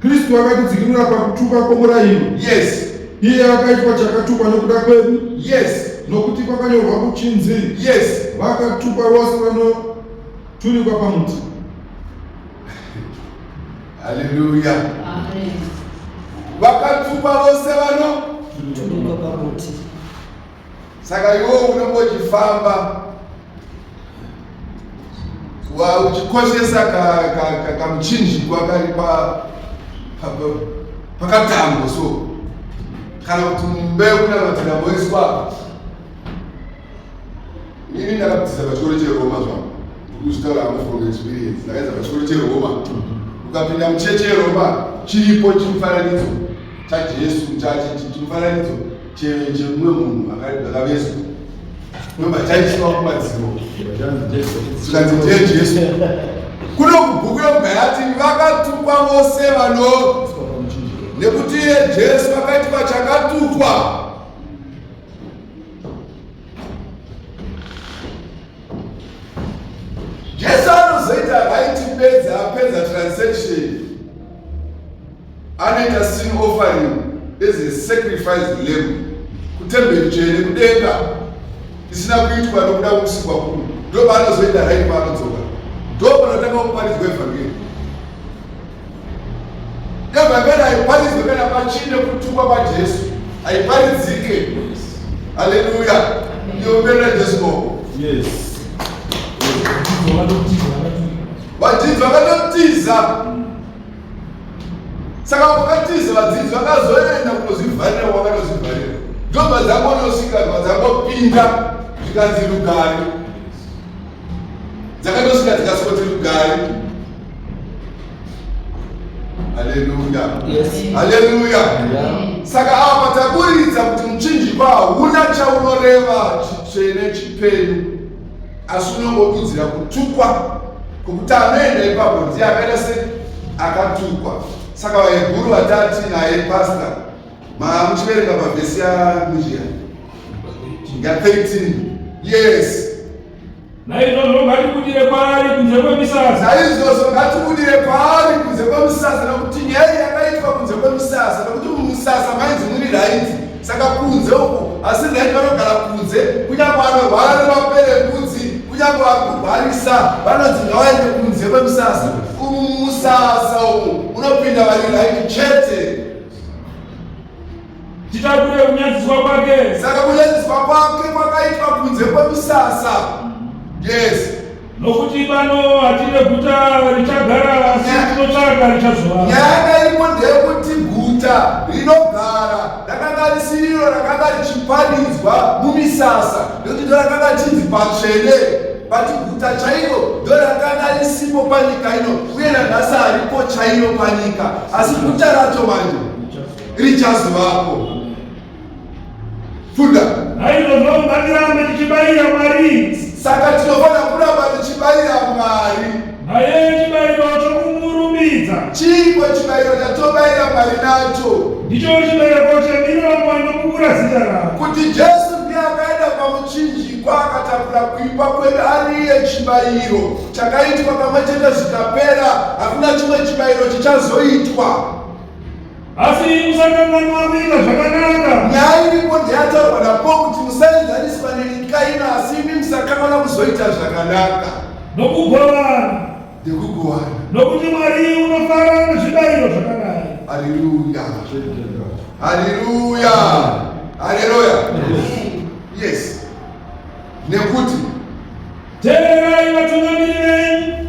Kristu akatidzikinura pakutuka kwomurairo. Yes. Iye akaitwa chakatukwa nokuda kwedu. Yes. Nokuti kwakanyorwa kuchinzi. Yes. Vakatukwa vose vanoturikwa pamuti. Haleluya. Amen. Vakatukwa vose vano. Turikwa pamuti. Saka iwe unenge uchifamba uchikoshesa kamuchinjikwa ka, ka, kari pa, pa, pa, pakatambo so kana kuti mumbeu kunamatira moiswa ini ndakabvisa pachikoro cheroma zvangu ndikuzvitaura hangu from experience ndakaedza pachikoro cheroma ukapinda mucheche yeroma chiripo chimufananidzo chajesu chachi chimufananidzo chemumwe munhu akavezwa ndomba chaiswa kumadziro zvikanzi ndiye jesu kuno kubhuku yoga yati vakatukwa vose vano nekuti iye jesu akaitwa chakatukwa jesu anozoita right pedza apedza transaction Anoita sin offering as a sacrifice lamb kutemberi tsvene kudenga isina kuitwa nokuda kusikwa kuno ndopaanozoita right paanodzoka ndopanotanga kuparidzwa evhangeri evhangeri haiparidzwe kana pachine kutukwa kwajesu haiparidzike haleluya ndioperera jesu koko vadzidzi vakatotiza saka wakatiza vadzidzi vakazoenda kunozvivharira wakanozvivharira ndobva dzakonosvika dzakopinda zvikanzi rugari dzakatosvika dzikasvoti rugari haleluya haleluya saka ava pataburidza kuti muchinjikwa hauna chaunoreva chitsvene chipenyu asi unongodudzira kutukwa kwokuti anoenda ipapo ndiye akaita se akatukwa saka vahebhuru vatati naye pasta muchiverenga mavhesi yamujiya ya 13 yes naizvozvo ngatibudire kwaari kunze kwemisasa naizvozvo ngatibudire kwaari kunze kwemisasa nokuti nyaya yakaitwa kunze kwemisasa nokuti mumusasa mainzi muri raiti saka kunze uku asi nhai vanogara kunze kunyange anorwara nevapere mbudzi kunyange vari kurwarisa vanonzi ngavaende kunze kwemusasa umu musasa umu unopinda vari raiti chete titakure kunyadziswa kwake saka kunyadziswa kwake kwakaitwa kunze kwemusasa yes Nokuti pano hatine guta richagara, asi tinotsvaga richazova. Nyaya iripo ndeyekuti guta rinogara rakanga risiriro rakanga richipanidzwa mumisasa nekuti ndo rakanga chinzi patsvene vati guta chairo ndo rakanga risipo panyika ino uye nanhasi haripo chairo panyika asi guta racho manje richazovapo Funda. Naizvozvo ngatirambe tichibayira Mwari. Saka tinofanira kuramba tichibayira Mwari. Naye chibayiro chokumurumidza. Chiiko chibayiro chatobayira Mwari nacho? Ndicho chibereko chemiromo inopupura zita rako. Kuti Jesu ndiye akaenda pamuchinjikwa akatakura kuipa kwedu ari iye chibayiro chakaitwa kamwe chete zvikapera, hakuna chimwe chibayiro chichazoitwa. Asi musakanganwa kuita zvakanaka. Nyaya iripo ndeyataurwa naPaul kuti musaenzaniswa nenyika ino, asi imi musakanganwa kuzoita zvakanaka. Nokugovana. Nekugovana. Nokuti Mwari unofara nezvibayiro zvakadai. Haleluya. Haleluya. Haleluya. Yes. Nekuti tererai vatungamiri venyu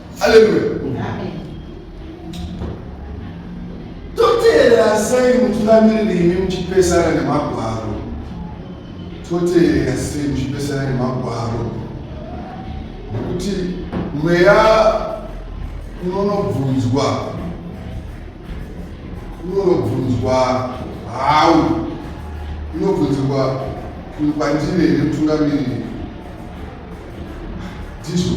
Haleluya. Amen. Toteerera sei mutungamiriri imi muchipesana nemagwaro? Toteerera sei muchipesana nemagwaro? Nekuti mweya unonobvunzwa unonobvunzwa hau unobvunzirwa kwandiri here mutungamiriri ndizvo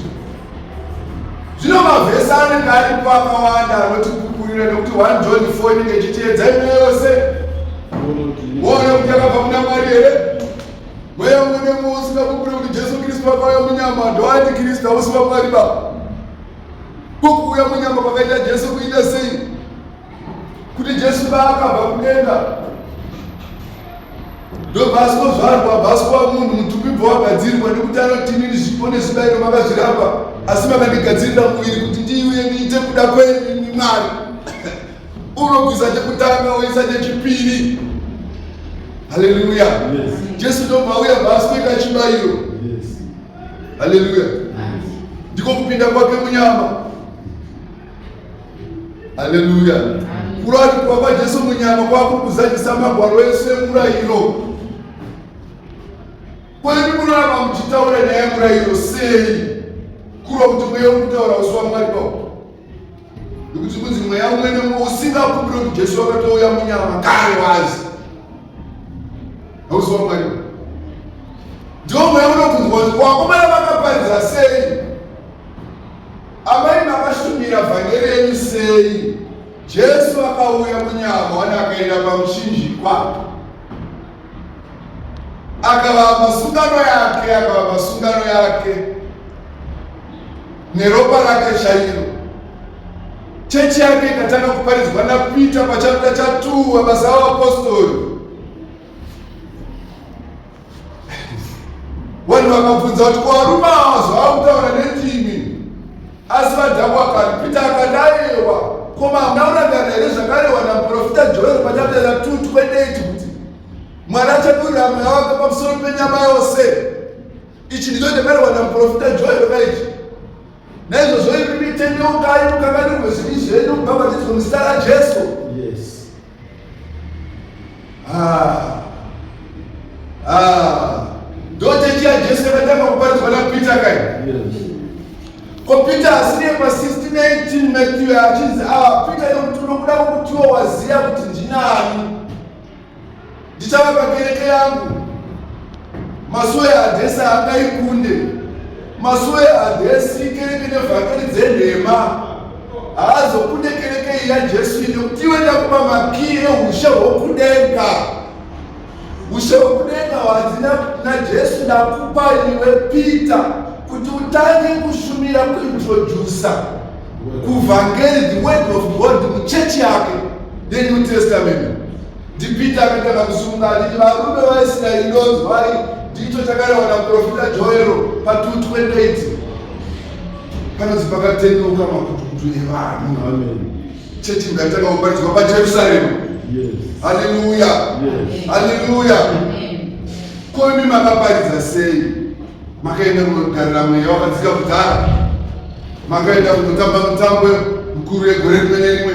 zvino mavhesi anenge aripo akawanda anotipukurira nekuti one john fo inenge ichitiedza ino yose woona kuti yakabva kuna mwari here mweya mune muusikakupure kuti jesu kristu vakauya munyama ndoati kristu hausi vamwari baba kukuuya munyama kwakaita jesu kuita sei kuti jesu paakabva kudenga ndobva asikozvarwa bvaswa munhu mutupi bva wagadzirwa nekuti anotinini zvipo nezvibairo makazviramba asi makandigadzirira muviri kuti ndiuye ndiite kuda kwenini mwari unobvisa chekutanga oisa chechipiri haleluya jesu ndobva auya bvaasweka chibairo haleluya ndiko kupinda kwake munyama haleluya kuratikwa kwajesu munyama kwakukuzadzisa magwaro ese murayiro kwani munoramba muchitaura nyaya yemurayiro sei kurwa kuti mweya uri kutaura usi wamwari pao nekuti kunzi mweya umwene usingakumbire kuti jesu wakatouya munyama kare wazi hausi wamwari ndiwo mweya unokunzwa kuti wakomana vakaparidza sei Amai makashumira vhangeri yenyu sei? Jesu akauya munyama wani akaenda pamuchinjikwa akavapa sungano yake akavapa sungano yake neropa rake chairo chechi yake ikatanga kuparidzwa napita pachapita chatuwa basa vaapostori Vanhu vakabvunza kuti kwarume awa zvavakutaura nendimi asi vadhabu akaripita akadayewa koma hamuna kurangana here zvakarewa naprofita joel pachapera tutu kwedeti kuti mwari achadurira mweya wake pamusoro penyama yose ichi ndicho chakarewa naprofita joel kaichi naizvozvo imi mitendeukai mukanganirwe zvivi zvenyu bhabhatidzwa muzita rajesu yes. Ah. Ah. Ndochechi ya Jesu yakatanga kuparidzwa na Peter kai. Yes. Ko Peter asiri pa 1618 Matthew achinzi ah Peter yokuti unokuda kukutiwa waziya kuti ndinani. ndichavaka kereke yangu masuwe hadhesi haangaikunde masuwe hadhesi kereke nevhakari dzenhema haazokunde kereke iyi yajesu ine kuti iwe ndakupa makii eushe hwokudenga ushe hwokudenga hwanzi najesu ndakupa iwe peter kuti utange kushumira kuintrodusa kuvhangeri the word of god muchechi yake the new testament NdiPeter akatanga kusunga achiti varume vaIsraeri ndonzi vai ndicho chakarehwa naprofita Joero pa228 panonzi pakatendeuka makutukutu evanhu chechi ngatanga kuparidzwa paJerusarema haleluya haleluya koimi makaparidza sei makaenda kunogarira mweya wakadzika kudhara makaenda kunotamba mutambo mukuru yegore rimwe nerimwe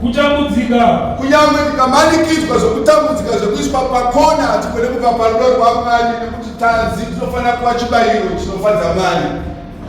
kutambudzika kunyange tikamanikidzwa zvokutambudzika zvekuiswa pakona hatigone kubva parudo rwamwari nekuti tanzi tinofanira kuva chibayiro chinofadza mwari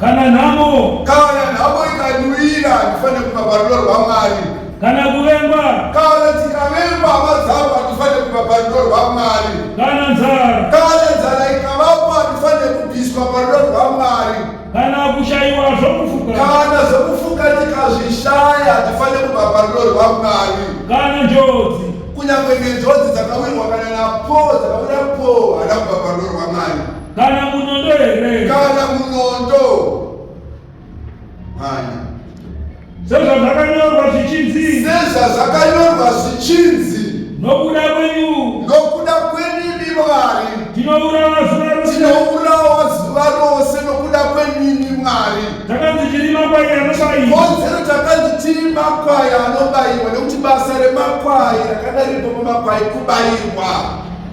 kana nhamo kana nhamo ikanwira hatifanire kubva parudo rwamwari kana kuvengwa kana tikavengwa hama dzavo hatifanire kubva parudo rwamwari kana nzara kana nzara ikavapo hatifanire kubviswa parudo rwamwari kana kushaiwa zvokufuka kana zvokufuka tikazvishaya hatifanire kubva parudo rwamwari kana njodzi kunyange nenjodzi dzakawirwa kana napo dzakawira po hana kubva parudo rwamwari kana munondo here kana munondo mhanya sezvazvakanyorwa zvichinzi sezvazvakanyorwa zvichinzi nokuda kwenyu nokuda kwenyu imi mwari tinourawa zuva rose tinourawa zuva rose nokuda kwenini mwari takanzi tiri makwai anobaiwa kodzero takanzi tiri makwai anobaiwa nekuti basa remakwai rakadaripo mumakwai kubairwa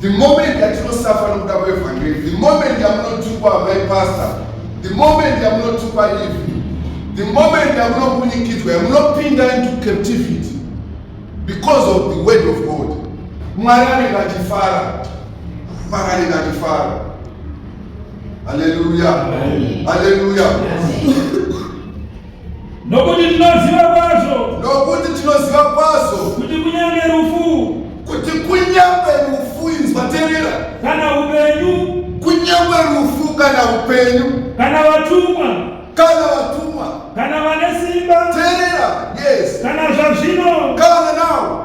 The moment yatinosafa nokuda kwevhangeri, the moment yamunotukwa amai pastor, the moment yamunotukwa ivi, the moment yamunobunikidzwa, yamunopinda into captivity because of the word of God. Mwari anenge achifara, Mwari anenge achifara. Hallelujah, hallelujah. Nokuti tinoziva kwazvo. Nokuti tinoziva kwazvo. Kuti kunyange rufu. Kuti kunyange rufu inzwa terera. Kana upenyu. Kunyange rufu kana upenyu. Kana vatumwa. Kana vatumwa. Kana vane simba. Terera. Yes. Kana zvazvino. Kana now.